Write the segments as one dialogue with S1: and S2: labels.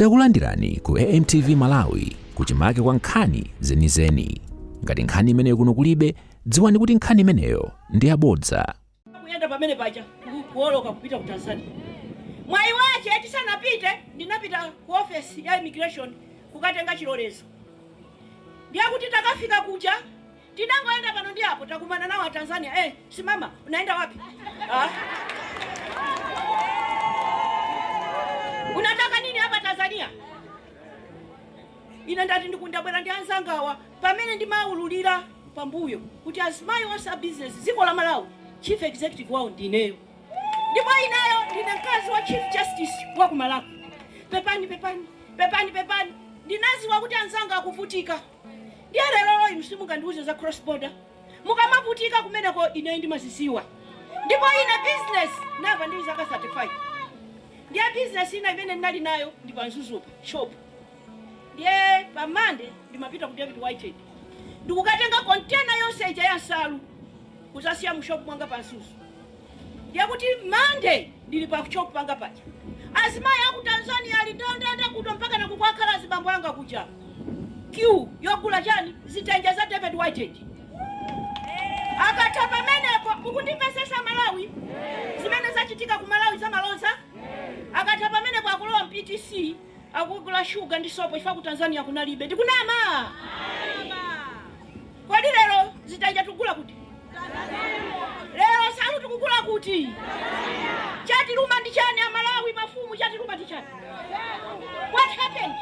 S1: Takulandirani ku AMTV Malawi kuchimake kwa nkhani zenizeni. Ngati nkhani imeneyo kuno kulibe, dziwani kuti nkhani imeneyo ndi yabodza. kuyenda pamene
S2: paja kuoloka kupita ku tanzania mwayi wache eti sanapite ndinapita ku ofesi ya immigration kukatenga chilolezo ndiye kuti takafika kuja Tinangoyenda pano ndi apo takumana nawo a Tanzania eh simama unaenda wapi ah. Unataka nini hapa Tanzania? Ine ndati ndiku- ndabwera ndi anzangawa pamene ndimaululira pambuyo kuti azimayi onse a business dziko la Malawi chief executive wawo ndineyo ndipo ineyo ndine mkazi wa chief justice wa ku Malawi. Pepani, pepani, pepani, pepani, ndinaziwa kuti anzanga akuvutika Ndiye lerolo inu simungandiuze za cross border? Mukamavutika kumeneko ineyo ndimaziziwa. Ndipo ine business ndayamba ndili ndi zaka 35. Ndiye business ina imene ndinali nayo ndi pa Mzuzupa shop. Ndiye pa Monday ndimapita ku David Whitehead. Ndikukatenga container yonse ija ya nsalu kuzasiya mu shop mwanga pa Mzuzu. Ndiye kuti Monday ndili pa shop panga paja, azimayi aku Tanzania ali ndandanda kuno mpakana kukwakhala azibambo anga kuja, queue yogula chani, zitenje za David Whitehead. Akatha pamenepo, mukundimvetsetsa Malawi? Zimene zachitika ku Malawi za malodza? Akatha pamenepo akulowa mu PTC. akugula shuga ndi sopo chifukwa ku Tanzania kunalibe. Ndikunama? Kodi lero zitenje tikugula kuti? Lero nsalu tikugula kuti? Chatiluma ndi chani a Malawi, mafumu chatiluma ndi chani? What happened?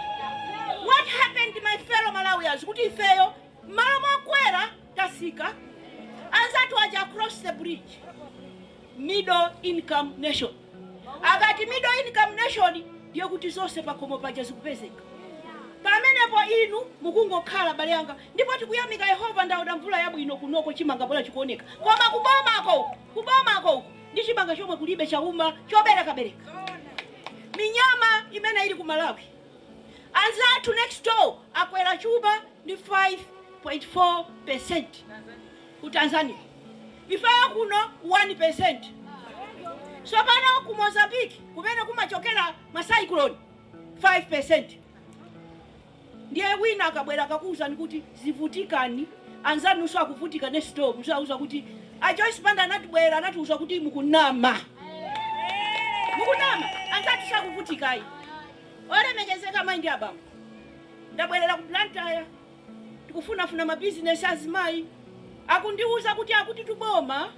S2: What happened my fellow Malawians kuti ifeyo mmalo mokwera tasika anzathu aja across the bridge Middle income nation. Akati middle income nation ndiye kuti zonse pakhomo paja zikupezeka pamenepo. Inu mukungokhala abale anga, ndipo tikuyamika Yehova ndaona mvula yabwino kunoko chimanga bola chikuoneka, koma kubomako kubomako uku ndi chimanga chomwe kulibe chauma choberekabereka. Minyama imene ili ku Malawi anzathu next door akwera chuma ndi 5.4%. ku Tanzania ifeyo kuno 1%. Tsopano ku Mozambique kumene kumachokera ma cyclone 5%. Ndiye wina akabwera akakuwuzani kuti zivutikani, anzanunso akuvutika next door muzawauza kuti a Joyce Banda anatibwera anatiwuza kuti mukunama. Mukunama, anzathu sakuvutikayi. Olemekezeka mayi ndi abambo, ndabwerera ku Blantyre. Tikufunafuna mabizinesi azimayi akundiuza kuti akutitu boma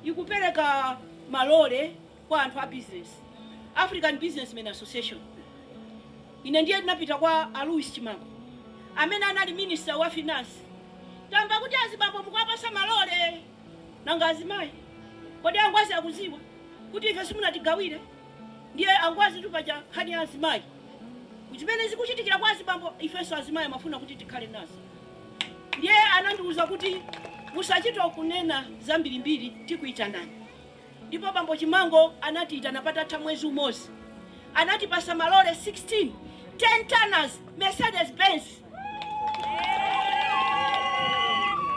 S2: ikupereka malore kwa anthu a bizinesi, African Businessmen Association. Ine ndiye ndinapita kwa a Louis Chimango amene anali minister wa finance. Tamva kuti azibambo mukuwapasa malore nanga azimayi? Kodi a Ngwazi akuziwa kuti ife simunatigawire? Ndiye angwazitu paja nkhani ya azimayi zimene zikuchitikira kwa azibambo ifenso azimayi amafuna kuti tikhale nazo ndiye anandiuza kuti musachito kunena zambirimbiri tikuitanani ndipo bambo Chimango anatiitana patatha mwezi umozi anatipasa malore 16 10 tonners Mercedes Benz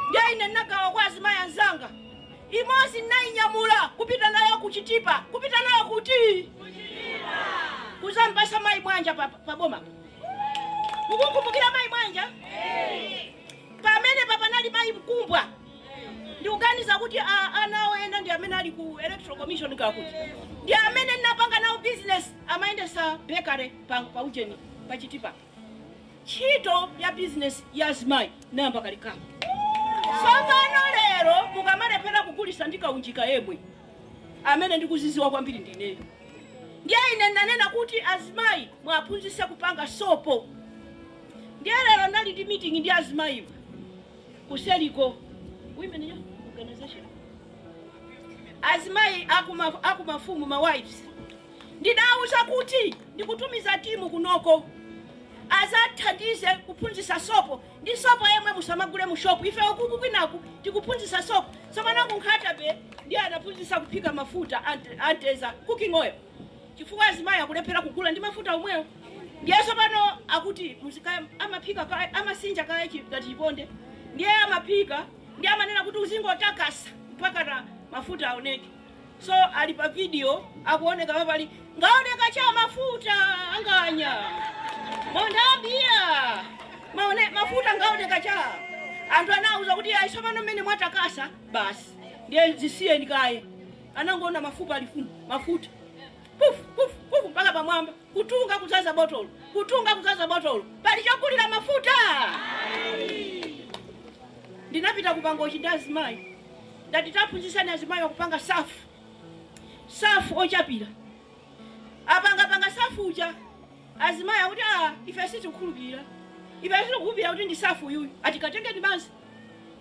S2: ndiye ine nnagawa kwa azimayi anzanga Imodzi ndinayinyamula kupita nayo ku Chitipa. Kupita nayo kuti? Ku Chitipa. Kuzawapasa mayi Mwanja pa, pa boma po. Mukumkumbukira mayi Mwanja? Pamenepa panali mayi Mkumbwa. Ndikuganiza kuti a, ana awo ena ndi amene ali ku Electoral Commission kakuti. Ndi amene ndinapanga nawo business amayendesa bakery pa, pa ujeni pa Chitipa. ntchito ya business ya azimayi inayamba kalekale tsopano lero mukamalephera kugulisa ndi kaunjika yemwe amene ndikuziziwa kwambiri ndineyo ndiye ine ndinanena kuti azimayi muwaphunzise kupanga sopo ndiye lero ndinali ndi meeting ndi azimayiwo kuseriko women yo organization azimayi akuma akumafumu ma wives Ndidawauza kuti ndikutumiza timu kunoko azathandize kuphunzitsa sopo ndi sopo yemwe musamagule mu shop ife ukuku kwinaku tikuphunzitsa sopo tsopano ku Nkhata-bay ndiye anaphunzitsa kuphika mafuta a mtedza, cooking oil, chifukwa azimayi akulephera kugula ndi mafuta omwewo ndiye tsopano akuti muzika amaphika kaye amasinja kaye chi ngati chiponde ndiye amaphika ndiye amanena kuti uzingotakasa mpakana mafuta aoneke. so ali pa video akuoneka pali ngaoneka cha mafuta anganya mondabia maone mafuta ngaoneka cha anthu anauza kuti ayi tsopano mmene mwatakasa basi ndiye zisiyeni kaye anangoona mafupa alifuna mafuta puf puf puf mpaka pamwamba kutunga kuzaza botolo kutunga kuzaza botolo pali chogulira mafuta ndinapita ku Mangochi ndi azimayi ndati taphunzitseni azimayiwa kupanga safu, safu ochapira. Apangapanga safu uja azimayi akuti aa, ife sitikukhulupirira, ife sitikukhulupirira kuti ndi safu uyuyu, ati katengeni madzi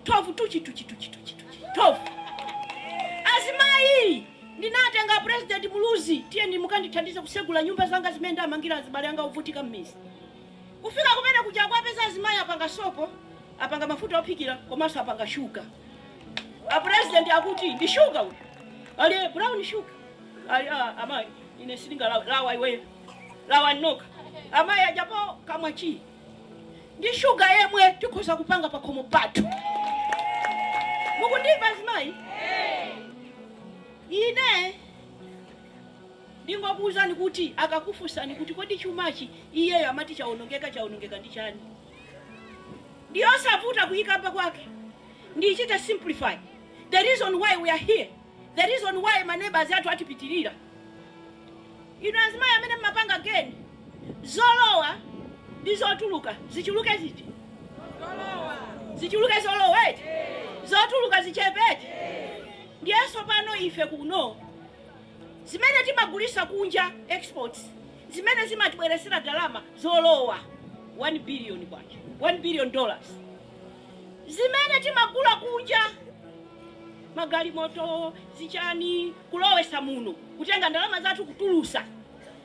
S2: thovu tuchi tuchi tuchi tuchi tuchi thovu azimayi ndinatenga president muluzi tiyeni mukandithandize kusegula nyumba zanga zimene ndamangira azibale anga ovutika m'midzi Kufika kumene kuja kuwapeza azimayi apanga sopo, apanga mafuta ophikira komanso apanga shuga. A president akuti ndi shuga uyu. Ali eh, brown shuga. Ali ah, amayi ine sindingalawe, lawa iweyo. Lawa nokha. Amayi ajapo kamwa chi. Ndi shuga yemwe tikhoza kupanga pa khomo pathu. Mukundimva azimayi? Ine Ndingokuuzani kuti akakufunsani kuti kodi chumachi iyeyo amati chaonongeka chaonongeka ndi chani? Ndiyosavuta kuyikamba kwake. Ndichita simplify. The reason why we are here, the reason why ma neighbors athu atipitirira. Inu azimayi amene mmapanga geni, zolowa ndi zotuluka zichuluke ziti? Zichuluke zolowa eti? Zotuluka zichepe eti? Ndiye tsopano ife kuno. Zimene timagulisa kunja, exports, zimene zimatibwelesela ndalama zolowa, K1 billion, one billion dollars. Zimene timagula kunja, magalimoto, zichani, kulowesa muno, kutenga ndalama zathu kutulusa,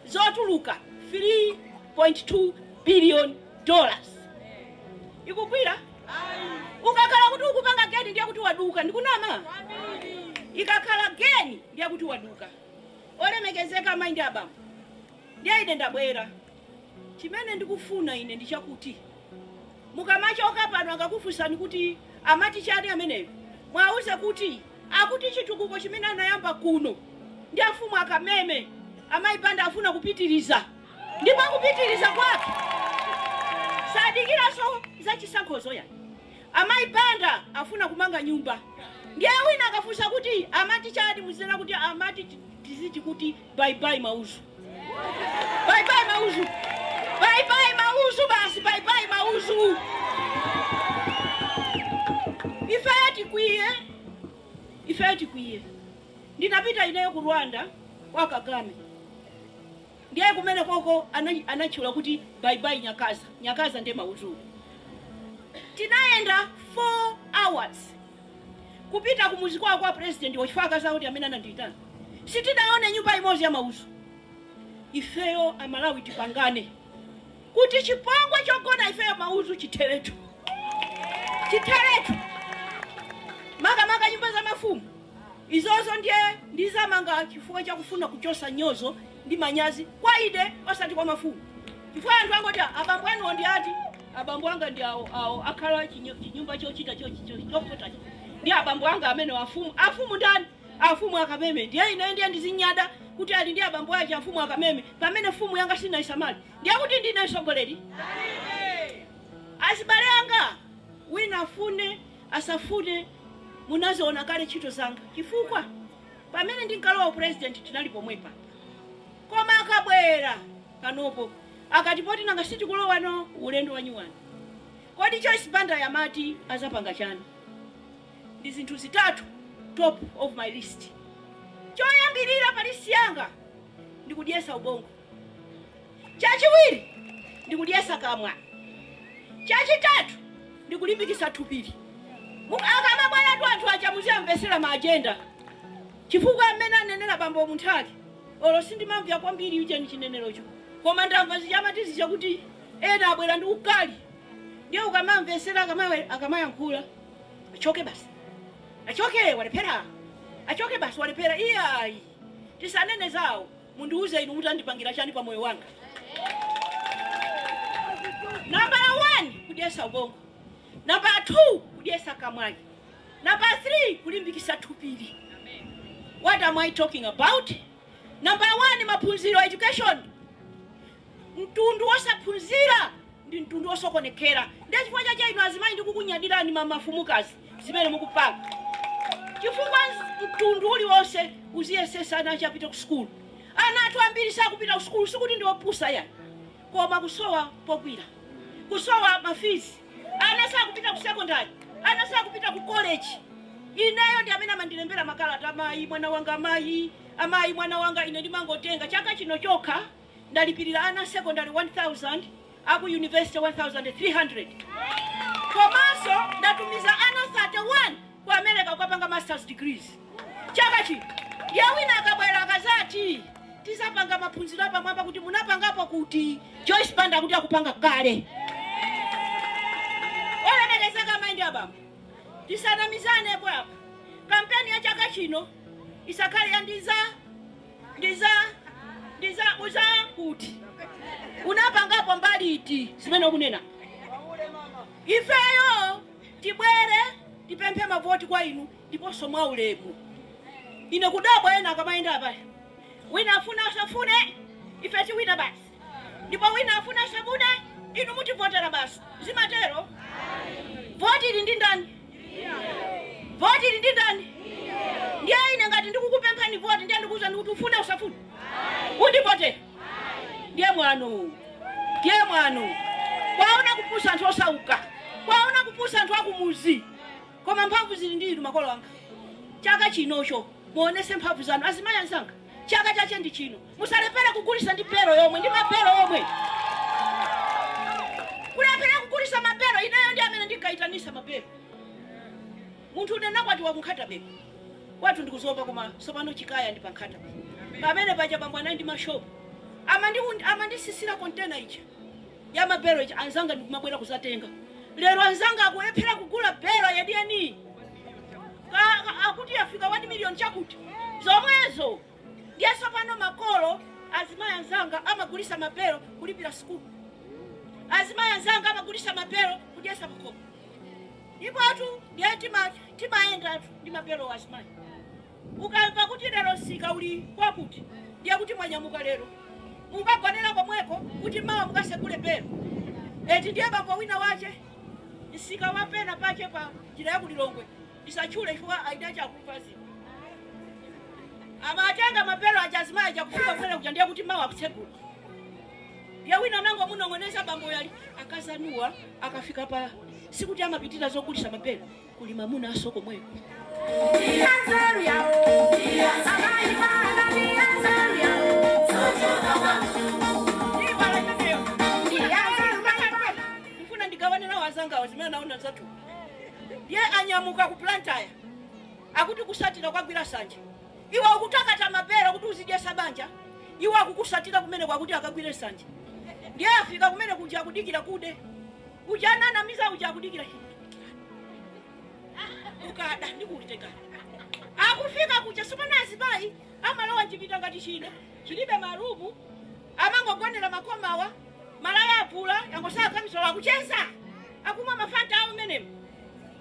S2: zotuluka, 3.2 billion dollars. Ikugwila? ukakhala kuti ukupanga geni ndiye kuti waduka ndikunama ikakhala geni ndiye kuti waduka olemekezeka amayi ndi abambo ndiye ine ndabwera chimene ndikufuna ine ndi chakuti mukamachoka pano akakufunsani kuti amati chani ameneyo mwauze kuti akuti chitukuko chimene anayamba kuno ndi afumu akameme amayi banda afuna kupitiriza ndipo kupitiliza kwake sadikilaso zachisankhozo ya amayi banda afuna kumanga nyumba ndiye wina akafunsa kuti amati chani muzinena kuti amati tiziti kuti baibai mauzu baibai mauzu baibai mauzu basi baibai mauzu ifeyo tikwiye ifeyo tikwiye ndinapita ineyo ku rwanda kwa kagame Ndiye kumenekoko anatchula kuti Bye Bye Nyakaza, Nyakaza ndiye mauzuwo. Tinayenda 4 hours kupita kumudzi kwawo kwa Pulezidentiwo chifukwa akazi awo ndi amene anandiitana. Sitinaone nyumba imodzi ya mauzu. Ifeyo Amalawi tipangane Kuti chipongwe chogona ifeyo maudzu chitheretu. Chitheretu. Makamaka nyumba za mafumu. Izozo ndiye ndizamanga chifukwa chakufuna kuchosa nyozo ndi manyazi kwa ine osati kwa mafumu. Chifukwa anthu angoti ah abambo anuwo ndi ati? Abambo anga ndi awo awo akhala chinyo, chinyumba chochita cho, cho, chofotachi. Ndi abambo anga amene afumu. Afumu ndani? Afumu akameme. Ndiye ine ndiye ndizinyada kuti ali ndi abambo ake afumu akameme pamene fumu yanga sinaisamali. Ndiye kuti ndine sogoleri? Azibale anga wina afune asafune munaziona kale ntchito zanga chifukwa pamene ndinkalowa u president tinali pomwepa koma akabwera panopo akati poti nanga sitikulowano ulendo wanyuwani kodi Joyce Banda yamati azatipanga chani? Ndi zinthu zitatu top of my list choyambilira pa list yanga ndi kudyesa ubongo. Chachiwiri ndi kudyesa kamwa. Chachitatu ndi kulimbikisa thupili. Akamabwelatu anthu aja muziwamvesela ma agenda chifukwa mmene anenela bambo Munthali olo sindimamvya kwambiri ujeni chinenelocho koma ndamva zija amati zija kuti ena abwela ndi ukali ndiye ukamamvesela akamayankhula achoke basi achoke walephera achoke basi walephera iyayi tisanene zawo. Mundiuze inu mudzandipangira chani pa moyo wanga? Nambala wani, kudyesa ubongo. Nambala thuu, kudyesa kamwayi. Nambala thrii, kulimbikisa thupili. What am I talking about? Nambala wani, maphunziro, education. Mtundu wosaphunzira ndi mtundu wosokonekera ndiye chifukwa chache inu azimayi ndikukunyadirani mafumukazi zimene mukupanga chifukwa mtundu uliwonse uziyesesa ana ache apite ku sukulu ana athu ambiri sakupita ku sukulu sikuti ndi opusa yayi koma kusowa pogwira kusowa ma fees ana sakupita ku secondary ana sakupita ku college ineyo ndi amene amandilembera makalata amayi mwana wanga amayi mwana wanga ine ndimangotenga chaka chino chokha ndalipilira ana a secondary 1000, aku university 1300 komanso ndatumiza ana 31 ku America kukapanga masters degrees chaka chino. Ndiye wina akabwera akamati tizapanga maphunziro apamwamba kuti munapangapo kuti Joyce Banda kuti akupanga kale. Olemekezeka amayi ndi abambo, tisanamizane apa. Kampeni ya chaka chino isakhale yandiza ndiza ndiza uza kuti unapangapo mbali iti zimene ukunena ifeyo tibwere tipemphe mavoti kwa inu ndiponso mwa ulemu ine kudabwa ena akamayenda apa wina afune asafune ife tiwina basi Ndipo wina afune asafune inu mutivotera basi. Zimatero? Voti ili ndi ndani? Voti ili ndi ndani? Ndiye ine ngati ndikukupemphani voti ndiye ndikuuzani kuti ufune usafune? Undivote. Ndiye mwano. Ndiye mwano. Kwaona kupusa anthu osauka. Kwaona kupusa anthu akumuzi. Koma mphamvu zili ndi inu makolo anga. Chaka chinocho muonese mphamvu zanu azimayi anzanga. Chaka chache ndi chino. Musalephere kugulisa ndi belo yomwe ndi ma belo omwe. Kulephera kugulisa ma belo ineyo ndi amene ndinkayitanisa ma belo. Munthu ndinakwatiwa ku Nkhata Bay. Kwathu ndi ku Zomba koma sopano chikaya ndi pa Nkhata Bay. Pamene paja bambo anali ndi mashopu. Amandi amandisisira container ija. Ya ma belo ija anzanga ndikumabwera kuzatenga. Lero anzanga akulephera kugula belo yeniyeni. Ka- ka- Akuti yafika 1 million chakuti. Zomwezo. Ndiye tsopano makolo, azimayi anzanga, amagulisa ma belo kulipira sukulu. Azimayi anzanga amagulisa ma belo kudyesa makomo. Ndipotu ndiye tima timayendatu ndi ma belowo azimayi. Ukamva kuti lero msika uli kwakuti ndiye kuti mwanyamuka lero. Mukagonera komweko kuti mawa mukasegule belo. Eti ndiye bambo wina wache msika wa pena pache pa njira ya ku Lilongwe. Ndisatchule chifukwa a Itachi akumva zinthu. Amatenga ma belo aja azimayi aja kufika kumene kuja ndiye kuti mawa akutsegula. Ndiye wina anangomunong'oneza bambo uyu ali akazi anuwa akafika pa sikuti amapitira zogulisa ma belo kuli mamunaso komweko. Ndifuna ndigawane nawo azangawa zimene anaona zathu. ndiye anyamuka ku Blantyre akuti kusatira kukagwira sanje iwe ukutakata ma belo kuti uzidyesa banja iwo akukusatira kumeneko akuti akagwire sanje ndiye afika kumene kuja akudikira kude uja ananamiza uja akudikira kukada ndikutengana akufika kuja sopano azimayi amalowa mchipinda ngati chino chilibe marumu amangogonera makomawa malaya avula yangosala kamisola akucheza Akumwa ma fanta awo mmenemo,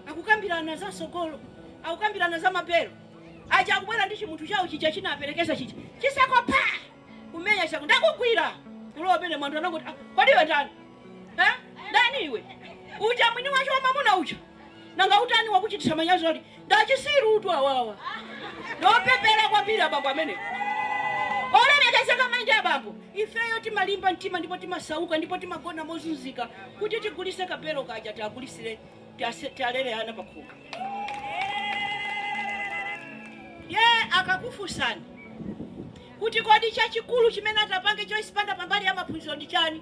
S2: akukambirana za mtsogolo, akukambirana za ma belo aja, akubwera ndi chimunthu chawo chija chinaperekeza chija, chiseko pa! Kumenya chiseko, ndakugwira! Kulowa mmenemo, anthu anangoti, ah, kodi iwe ndani? Eh? Ndani iwe? Uja mwini wache wa mamuna uja? Nanga utani wakuchititsa manyazi ati Ndachisirutu awawa. Ndopepera kwambiri abambo amenewo. Olemekezeka mayi ndi abambo, ifeyo timalimba mtima ndipo timasauka ndipo timagona mozunzika kuti tigulise ka belo kaja tiagulisire tiase- tialere ana pakhomo. Ndiye akakufunsani kuti kodi chachikulu chimene atapange Joyce Banda pambali ya maphunziro ndi chani?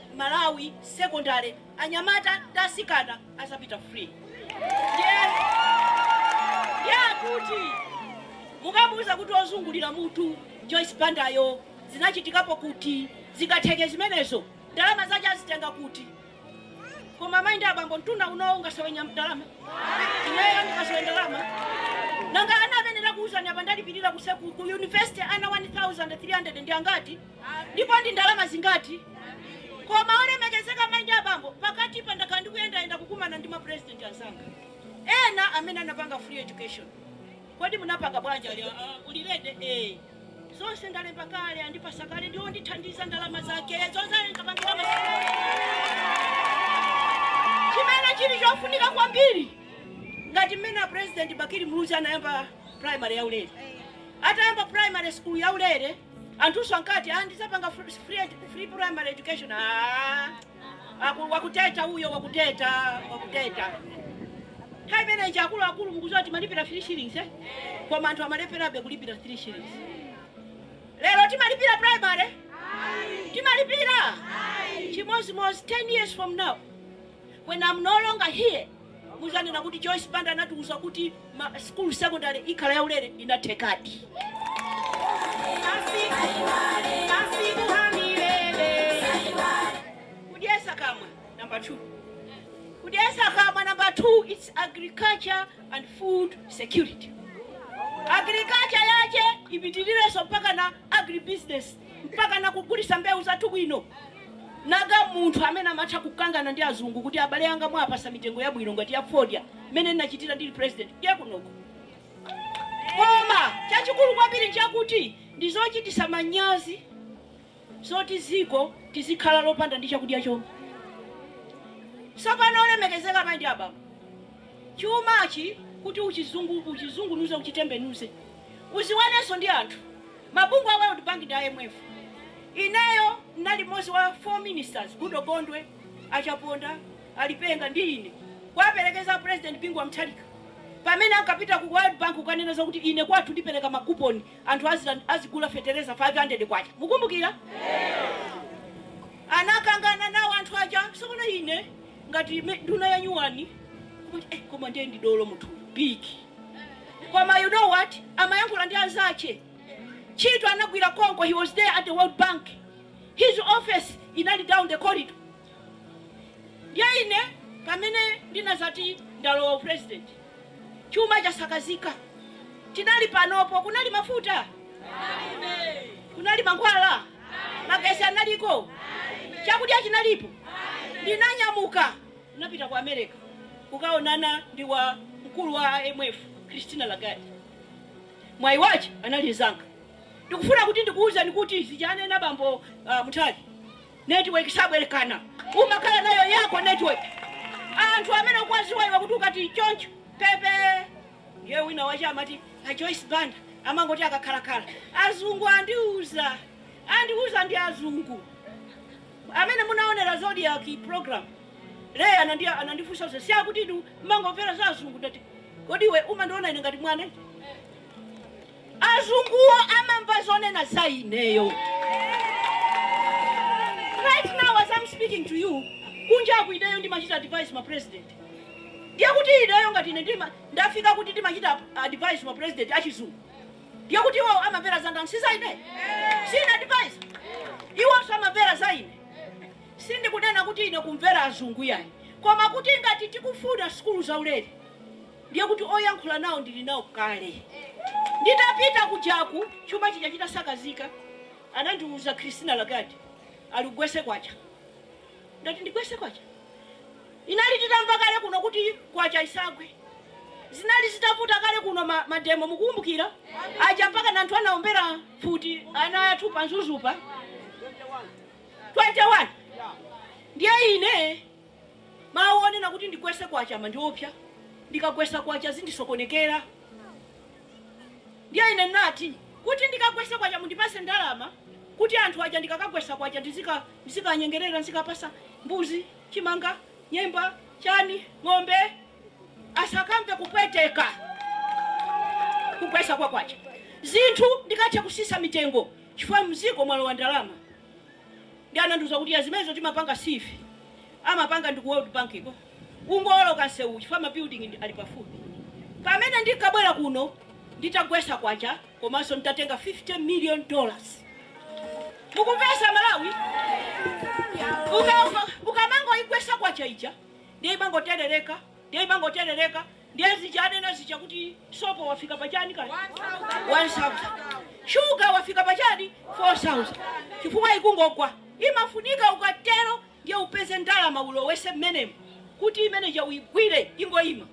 S2: Malawi secondary anyamata ndi asikana azapita free ndiye kuti mukawauza kuti ozungulira mutu Joyce Bandayo zinachitikapo kuti? Zingatheke zimenezo? Ndalama zache azitenga kuti? Koma mai ndi abambo mtundu unowu ungasowe nyam- ndalama? Ineyo ndingasowe ndalama? Nanga ana amene ndakuuzani apa ndalipirira ku, se- ku, ku university ana 1300 ndi angati? Ndipo ndi ndalama zingati? Koma, olemekezeka amayi ndi abambo, pakati apa ndakhala ndikuyendayenda kukumana ndi mapurezidenti anzanga ena amene anapanga free education. Kodi munapanga bwanji? Ah, ah, uli rede? Ee. Zonse ndalemba kale, andipasa kale ndi ondithandiza ndalama zake zonse ndapangira masamu kale. Chimene chili chofunika kwambiri ngati mmene a president Bakili Muluzi anayamba primary yaulere, atayamba primary school yaulere anthunso ankati ah, ndidzapanga fr- free, ed- free primary education ah, aku- wakupepera uyo wakupepera wakupepera nthawi imeneyi akuluakulu mukuziwa timalipira 3 shillings eh? koma anthu amalepherabe kulipira 3 shillings lero timalipira primary timalipira chimodzimodzi 10 years from now when i'm no longer here Muzanena kuti Joyce Banda anatiuza kuti school secondary ikhala ya ulere, inathekadi. Kudyesa kamwa number 2. Kudyesa kamwa number 2, it's agriculture and food security. Agriculture yache ipitilireso mpaka na agribusiness. mpaka nakugulisa mbewu zathu bwino nanga munthu amene amatha kukangana ndi azungu kuti abale anga mwapasa mitengo yabwino ngati ya fodya mmene ndinachitira ndili president ndine kunoko koma chachikulu kwambiri nchakuti ndizochitisa manyazi zoti ziko tizikhala lopanda ndi chakudya choncho sopano olemekezeka mai ndi abambo chumachi kuti uchizungu uchizungunuze uchitembenuze uziwanenso ndi anthu Mabungwe a World Bank ndi IMF. Ineyo ndinali mmodzi wa 4 ministers, Goodall Gondwe, a Chaponda, a Lipenga ndi ine, kuwaperekeza a President Bingu wa Mutharika pamene ankapita ku World Bank kukanena zakuti ine kwathu ndipereka ma coupon anthu aziland, azigula fetereza 500 kwacha. Mukumbukira? Anakangana nawo anthu aja. Tsopano ine ngati me- nduna yanyuwani kuti eh, koma ndiye ndi dolo munthu big koma you know what amayankhula ndi anzache, ntchito anagwira konko he was there at the world bank his office inali down the corridor ndiye ine pamene ndinadzati ndalowa upresident chuma chasakazika tinali panopo kunali mafuta kunali mankhwala magesi analiko chakudya chinalipo ndinanyamuka Ndinapita ku Amereka kukaonana ndi wa mkulu wa IMF, Christina Lagarde. Mwayi wache anali mzanga. Ndikufuna kuti ndikuuzeni kuti zija anena bambo uh, Munthali, network sabwerekana. Umakhala nayo yako network. Anthu amene ukuwaziwa iwe kuti ukati choncho pepe ndiye wina wache amati a Joyce Banda amangoti akakhalakhala azungu andiuza andiuza ndi azungu Amene munaonera zodiak program ija anandia anandifunsa kuti siakuti inu mmangomvera za azungu ndati kodi iwe umandiona ine ngati mwana eti? azunguwo amamva zonena za ineyo right now as I'm speaking to you kunja aku ineyo ndimachita advise ma president ndiye kuti ineyo ngati ine ndima ndafika kuti ndimachita advise ma president achizungu Ndiye kuti iwowo amamvera za ndani? Si za ine? Si ine advisor? Iwonso amamvera za ine? Sindikunena kuti ine kumvera azungu iyayi, koma kuti ngati tikufuna sukulu zaulere ndiye kuti oyankhula nawo ndili nawo kale. Nditapita kujaku chuma chija chitasakazika, anandiuza Christina Lagarde, ali gwetsa kwacha. Ndati ndigwese kwacha inali titamva kale kuno kuti kwacha isagwe zinali zitavuta kale kuno ma, mademo mukukumbukira aja mpaka na anthu anaombera mfuti ana athu pa Mzuzu pa 21 ndiye ine mawu onena kuti ndigwese kwacha amandiopsa ndikagwesa kwacha zindisokonekera ndiye ine nati kuti ndikagwese kwacha mundipase ndalama kuti anthu aja ndikakagwesa kwacha ndizika Nzikanyengerera, nzikapasa mbuzi, chimanga, nyemba, chani, ng'ombe, asakamve kupweteka. Kugwesa kwa kwacha zinthu ndikathe kusisa mitengo chifukwa mziko mwalowa ndalama. Ndiye anandiuza kuti ya zimenezo sitimapanga ife, amapanga ndi ku World Bank ko. Ungooloka nsewuwu chifukwa ma building ali pafupi. Pamene ndinkabwera kuno nditagwesa kwacha. komanso ntatenga 50 million dollars mukumvesa aMalawi Uka- uka- ukamangoigwesa kwacha ija ndiye imangoterereka ndiye imangoterereka ndiye zija anena zija kuti sopo wafika pachani kani 1000 shuga wafika pachani 4000 chifukwa ikungogwa imafunika ukatero ndiye upeze ndalama ulowese mmenemo kuti imeneja uigwire ingoima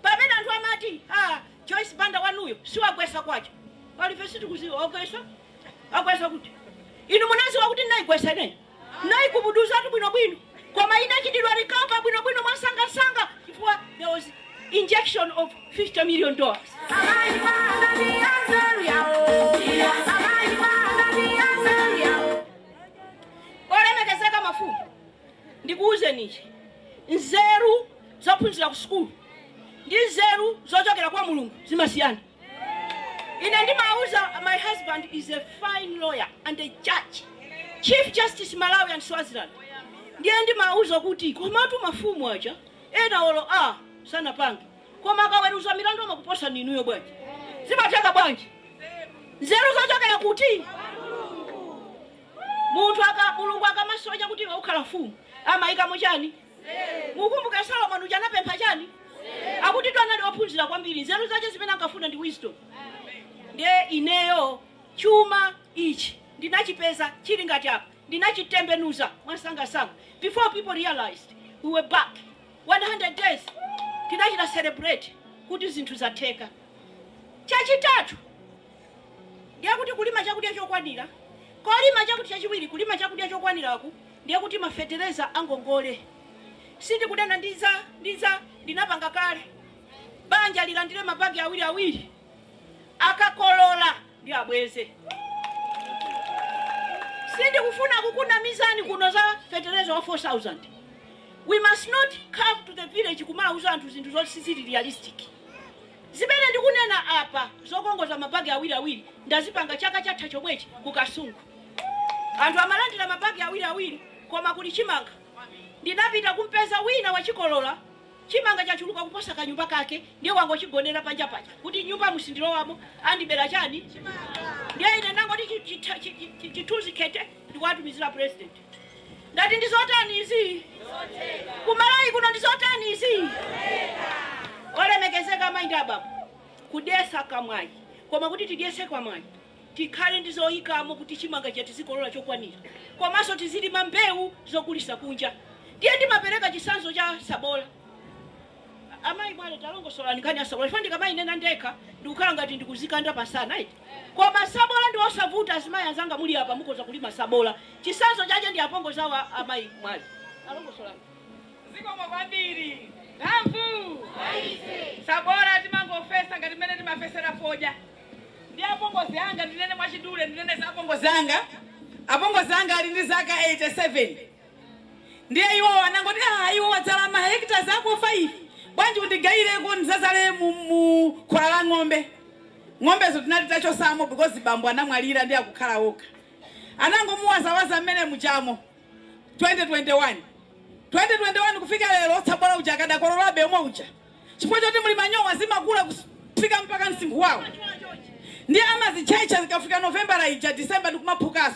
S2: pamene anthu amati ah, Joyce Banda wanuyo siwagwesa kwacha. Pali ife sitikuziwa wagwesa. Agwesa kuti. Inu munaziwa kuti naigwesa ine. Naikubuduzatu bwino bwino. Koma inachita recover bwino bwino mwamsanga msanga chifukwa there was injection of 50 million dollars. Olemekezeka mafumu. Ndikuuzeni ichi, nzeru zophunzira ku sukulu ndi nzeru zochokera kwa Mulungu zimasiyana. Ine ndimauza my husband is a fine lawyer and a judge, Chief Justice Malawi and Swaziland, ndiye ndimauza kuti komatu mafumu aja ena olo A sanapange koma akaweruza milandu amakuposani inuyo bwanji? Zimatheka bwanji? Nzeru zochokera kuti? Munthu aka Mulungu akamasankha kuti iwe ukhala mfumu, amaikamo chani? Mukukumbuka Solomon uja anapempha chani? Akutitu anali ophunzira kwambiri, nzeru zache zimene ankafuna ndi wisdom. Ndiye ineyo chuma ichi ndinachipeza chili ngati apa, ndinachitembenuza mwamsangamsanga before people realized we were back. 100 days tinachita celebrate kuti zinthu zatheka. Chachitatu. ndiye kuti kulima chakudya chokwanira, kolima chakuti chachiwiri kulima chakudya chokwaniraku ndiye kuti mafetereza angongole sindikudana ndi za ndi za ndinapanga kale banja lilandire mabagi awiri awiri akakolola ndi abweze sindikufuna kukunamizani kuno za fetereza wa 4000 we must not come to the village kumauza anthu zinthu zoti sizili realistic Zimene ndikunena apa zokongoza mabagi awiri awiri ndazipanga chaka chatha chomwechi ku Kasungu. Anthu amalandira mabagi awiri awiri koma kuli chimanga. Ndinapita kumpeza wina wachikolola chimanga chachuluka kuposa kanyumba kake ndiye wangochigonera panja paja kuti nyumbamu sindilowamo andibera chani chimanga. Ndiye ine ndangoti chithunzi khete ndikuwatumizira president. Ndati ndi zotani izi? Ku Malawi kuno ndi zotani izi? Olemekezeka amayi ndi abambo, kudyetsa kamwai, koma kuti tidyetse kamwai tikhale ndi zoyikamo kuti chimanga chija tizikolola chokwanira komanso tizilima mbewu zogulitsa kunja. Ndiye ndimapereka chitsanzo cha tsabola. Amayi Mwale, talongosolani nkhani ya tsabola chifukwa ndikamayinena ndekha ndikukhala ngati ndikuzikanda pansana eti. Koma sabola ndi osavuta azimayi anzanga muli apa mukhoza kulima sabola chisanzo chache ndi apongozi awo amayi Mwale alongosolani. Zikomo
S3: kwambiri. Mphamvu kwa ife. Sabola timangofesa ngati mmene timafesera fodya. Ndi apongozi anga ndinene mwachidule ndinene za apongozi anga. Apongozi anga ali ndi zaka 87. Ndiye iwowo anangoti, Aaa iwe wadzala mahectares ako 5, bwanji undigaileko ndizazale mu mu khola la ng'ombe. Ng'ombezo tinali titachotsamo because bambo anamwalira ndiye akukhala okha. Anangomuwazawaza mmene mujamo 2021. 2021 kufika lero tsabola uja akadakololabe omwe uja chifukwa choti muli manyowa zimakula kufika mpaka msinkhu wawo ndiye amazitchetcha zikafika Novembala ija December ndikumaphukaso.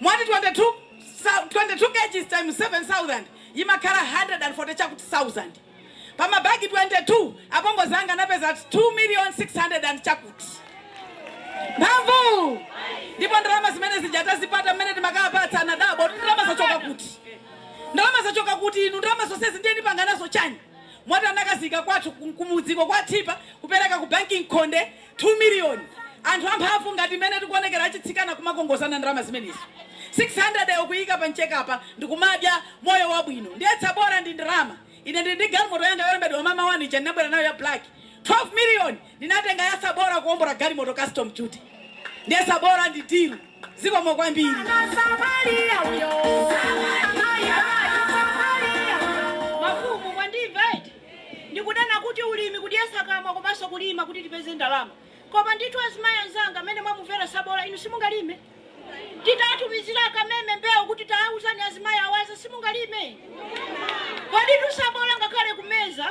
S3: Mwati 22 sou, 22 kgs times 7000 yimakhala 140 chakuti sauzand pa ma bag 22. Apongozi anga anapeza 2 million 600 chakuti. Mphamvu! Ndipo ndalama zimene zija atazipata mmene timakapatsa anadabwa ndalama zachoka kuti? Ndalama zachoka kuti inu? Ndalama zonsezi ndiye ndipanga nazo chani? Moti anakasiya kwathu kumudziko ku Chitipa kupereka ku banki mkhonde 2 million. Anthu amphamvu ngati mmene tikuonekera achitsikana kumakongozana ndalama zimenezi. 600 yo kuiika pa mchekapa ndikumadya moyo wabwino. Ndiye tsabola ndi ndalama. Ine ndili ndi galimoto yanga yolembedwa Mama One ija ndinabwera nayo ya black. 12 million Ndinatenga ya tsabola kuombola galimoto custom duty ndiye tsabola ndi dhilu zikomo kwambiri.
S2: Mafumu mwandimva eti? Ndikunena kuti ulimi kudyetsa kamwa komanso kulima kuti tipeze ndalama koma ndithu azimayi anzanga mmene mwamumvera tsabola inu simungalime? Titawatumizira a Kameme mbewu kuti taawuzani azimayi awaze simungalime? Koditu sabola ngakhale kumeza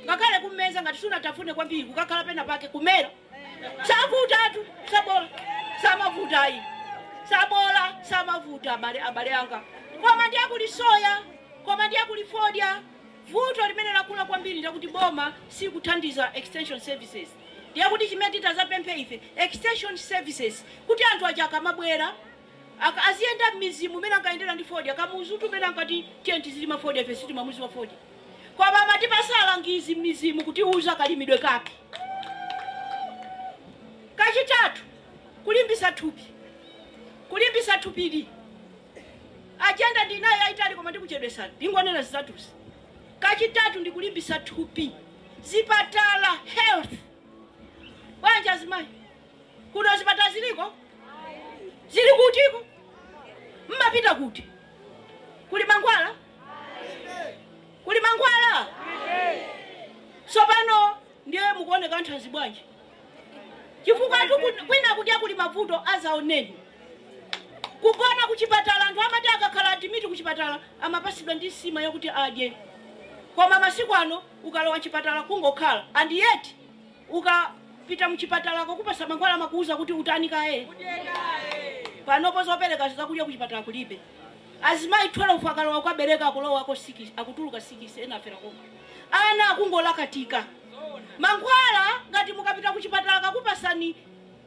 S2: ngakhale kummeza ngati sunatafune kwambiri kukakhala pena pake kumera savutatu sabola samavuta ayi sabola samavuta abale abale anga koma ndiye kuli soya koma ndiye kuli fodya vuto limene lakula kwambiri ndi lakuti boma silikuthandiza extension services Ndiye kuti chimene titazapemphe ife extension services kuti anthu aja akamabwera aziyenda mmidzimu mmene ankayendera ndi fodya Kamuzutu mmene ankati tiyeni tizilima fodya ife sitimamuziwa fodya koma amatipasa alangizi mmidzimu kutiuza kalimidwe kake kachitatu kulimbisa thupi kulimbisa thupili ajenda ndinayo yayitali koma ndikuchedwesani ndingonena zitatuzi kachitatu ndikulimbisa thupi Zipatala, health, bwanji azimayi? Kuno zipatala ziliko? Zili kutiko? Mmapita kuti? Kuli mankhwala? Kuli mankhwala? Tsopano ndiye mukuoneka athanzi bwanji? chifukwa kwina kudya kuli mavuto azaoneni kugona kuchipatala anthu amati akakhala adimiti kuchipatala amapasidwa ndi nsima yokuti adye koma masiku ano ukalowa mchipatala kungokhala and yet ukapita mchipatalako kupasa mankhwala amakuuza kuti utani kaye panopo zopereka zakudya kuchipatala kulibe azimayi 12 akalowa kukabereka akulowako 6 akutuluka 6 ena afera koma ana akungolakatika Mankhwala ngati mukapita kuchipatala akakupasani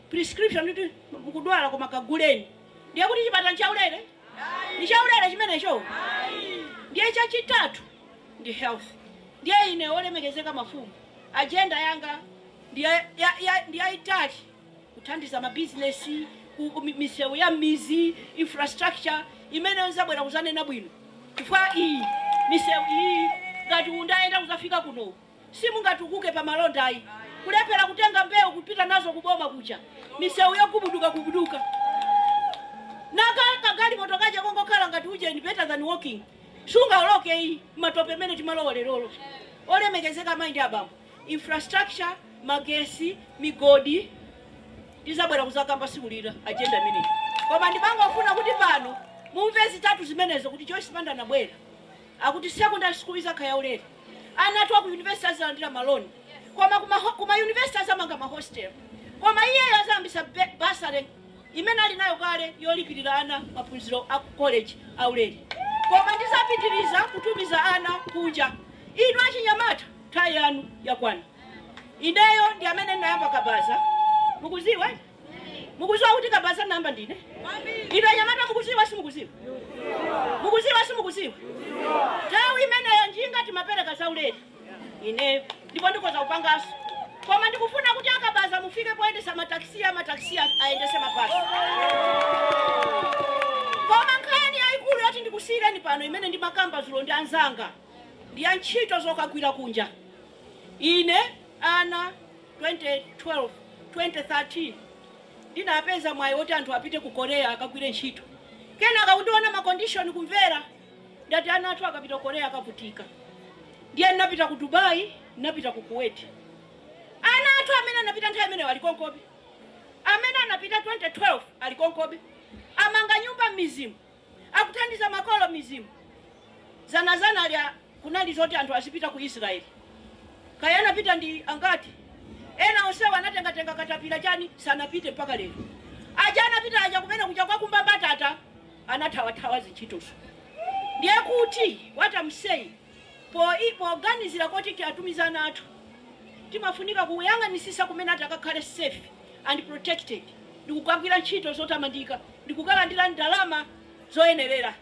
S2: prescription kuti mukudwala koma kaguleni ndiye kuti chipatala nchaulere? Ndi chaulere chimenecho? Ndiye chachitatu ndi health. Ndiye ine olemekezeka mafumu agenda yanga ndi ya, ya, ya, ndi yaitali kuthandiza ma business ku ku mi- misewu ya m'mizi infrastructure imeneyo nzabwera kuzanena bwino chifukwa iyi misewu iyi ngati mundayenda kuzafika kuno simungatukuke pa malonda ayi. Kulephera kutenga mbewu kupita nazo ku boma kuja, misewu yogubuduka gubuduka, nako kagalimoto kaja kongokhala ngati ujeni better than walking singaoloke ayi matope mene timalowa lerolo. Olemekezeka amayi ndi abambo, infrastructure, magesi, migodi tizabwera kuzakamba siku lina agenda imeneyi, koma ndimangofuna kuti pano mumve zitatu zimenezo kuti Joyce Banda anabwera. Akuti secondary school izakha ya ulere, ana athu aku university azalandira ma loan koma ku ma university azamanga ma hostel koma iyeyo azayambisa bursary imene ali nayo kale yolipilira ana maphunziro aku college a ulere koma ndizapitiliza kutumiza ana kunja. Inu achinyamata nthawi yanu yakwana. Ineyo ndi amene ndinayamba kabaza mukuziwa. Mukuziwa kuti kabaza nayamba ndine? Inu anyamata mukuziwa simukuziwa? Mukuziwa simukuziwa? Nthawi imeneyo njinga timapereka zaulere ineyo ndipo ndikoza kupangaso koma ndikufuna kuti akabaza mufike poyendesa mataxi amataxi ayendese mabasi koma nkhani yayikulu yoti ndikusiyireni pano imene ndimakamba zulo ndi anzanga ndi ya ntchito zokagwira kunja ine ana 2012, 2013 ndinapeza mwayi woti anthu apite ku Korea akagwire ntchito kenaka kuona ma condition kumvera ndati ana athu akapita ku Korea akavutika ndiye ndinapita ku Dubai ndinapita ku Kuwait ana athu amene anapita nthawi imeneyo ali konkobe amene anapita 2012 ali konkobe amanga nyumba mmizimu akuthandiza makolo mmizimu. Zanazanali kunali zoti anthu azipita ku Israeli. Kaya anapita ndi angati? Ena onsewa anatengatenga katapila chani sanapite mpaka lero. Aja anapita aja kumene kuja kokakumba mbatata anathawathawa zintchitozo. Ndiye kuti what am saying. Poganizira kuti tiatumize ana athu timafunika kuyang'anitsitsa kumene akuti akakhale safe and protected ndikukagwira ntchito zotamandika ndikukalandira ndalama zoyenerera.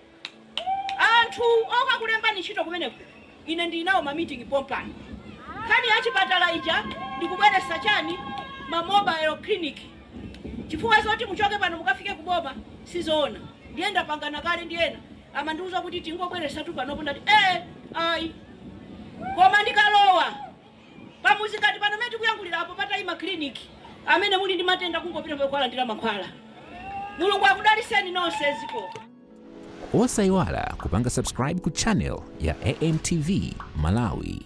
S2: Anthu okakulembani ntchito kumeneko ine ndili nawo ma meeting pompano. Nkhani ya chipatala ija ndikubweretsa chani ma mobile clinic chifukwa zoti muchoke pano mukafike kuboma sizoona ndiye ndapangana kale ndi ena. amandiuza kuti tingobweresatu panopo ndati ee ayi koma ndikalowa pamuzi ngati pano mene tikuyankhulira apo patayima clinic amene muli ndi matenda kungopita momwemo kukalandira mankhwala mulungu akudaliseni nonse
S1: zikomo osayiwala kupanga subscribe ku channel ya amtv malawi